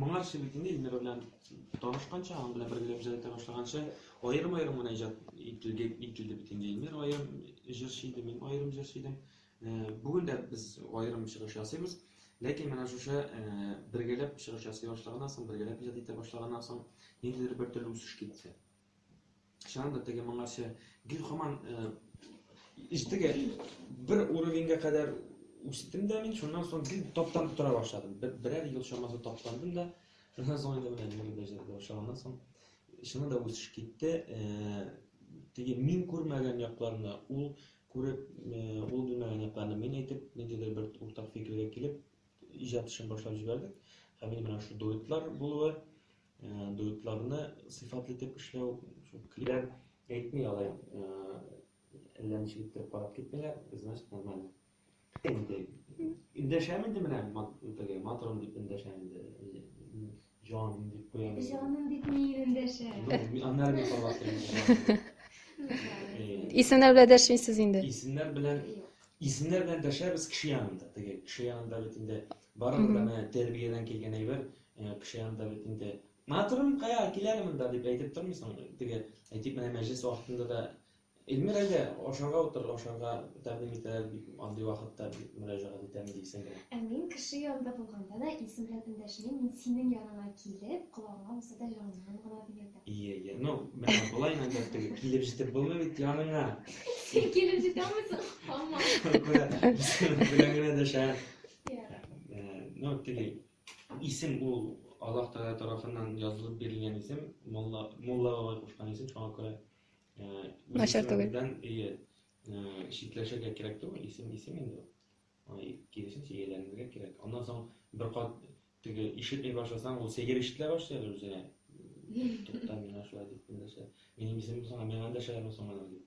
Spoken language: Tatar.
моңарчы бит инде Ильмира белән танышканча, аның белән бергә иҗат итә башлаганча, аерым-аерым гына иҗат ителде, ителде бит инде Ильмир аерым җырчы иде, мин аерым җырчы идем. Бүген дә без аерым чыгыш ясыйбыз. Ләкин менә шушы бергәләп чыгыш ясый башлаганнан соң, бергәләп иҗат итә башлаганнан соң, ниндидер бер төрле үсеш китте. Чыннан да теге моңарчы гел хаман иштеге бер уровеньга кадәр үстем дә мин, шуннан соң гел таптан тора башладым. Берәр ел чамасы таптандым да, шуннан соң инде менә җырлый да җырлый башлаганнан соң чыннан да үсеш китте. Теге мин күрмәгән якларны ул күреп, ул белмәгән якларны мин әйтеп, ниндидер бер уртак фикергә килеп, иҗат эшен башлап җибәрдек. Һәм менә шул дуэтлар булуы Дуэтларны сыйфатлы итеп эшләү шул клип әйтми алай әллә ничек итеп карап китмиләр, значит нормально. Инде индәшәм инде менә теге матрон дип индәшәм инде. Җан дип куям. Җаным дип ни индәшә? Аннары мин каласым. Исемнәр белән дәшмисез инде. Исемнәр белән исемнәр белән дәшәбез кеше янында. Теге кеше янында бит инде барыбер менә тәрбиядән килгән әйбер. Э, кеше янында бит инде матурым кая киләле монда дип әйтеп тормыйсың теге әйтик менә мәҗлес вакытында да эльмир әйдә ашарга утыр ашарга тәкъдим итәләр бик андый вакытта бик мөрәҗәгать итәм дисең генә ә мин кеше янында булганда да исем белән эндәшмим мин синең яныңа килеп колагыңа булса да җаныңнан гына дигәндә ие ие ну менә болай инде теге килеп җитеп булмый бит яныңа син килеп җитә алмыйсың хамма белән генә дәшә ну теге Исем ул Аллаһ Тәгалә тарафыннан язылып бирелгән исем, мулла, мулла бабай кушкан исем, шуңа күрә Начар түгел. Ие, читләшергә кирәк түгел, исем исем инде. Киресенчә ияләренергә кирәк. Аннан соң бер кат теге ишетми башласаң, ул сәер ишетелә башлый әле үзенә. Тукта, миңа шулай дип эндәшә. Минем исемем соң, миңа эндәшәләрме соң аны дип.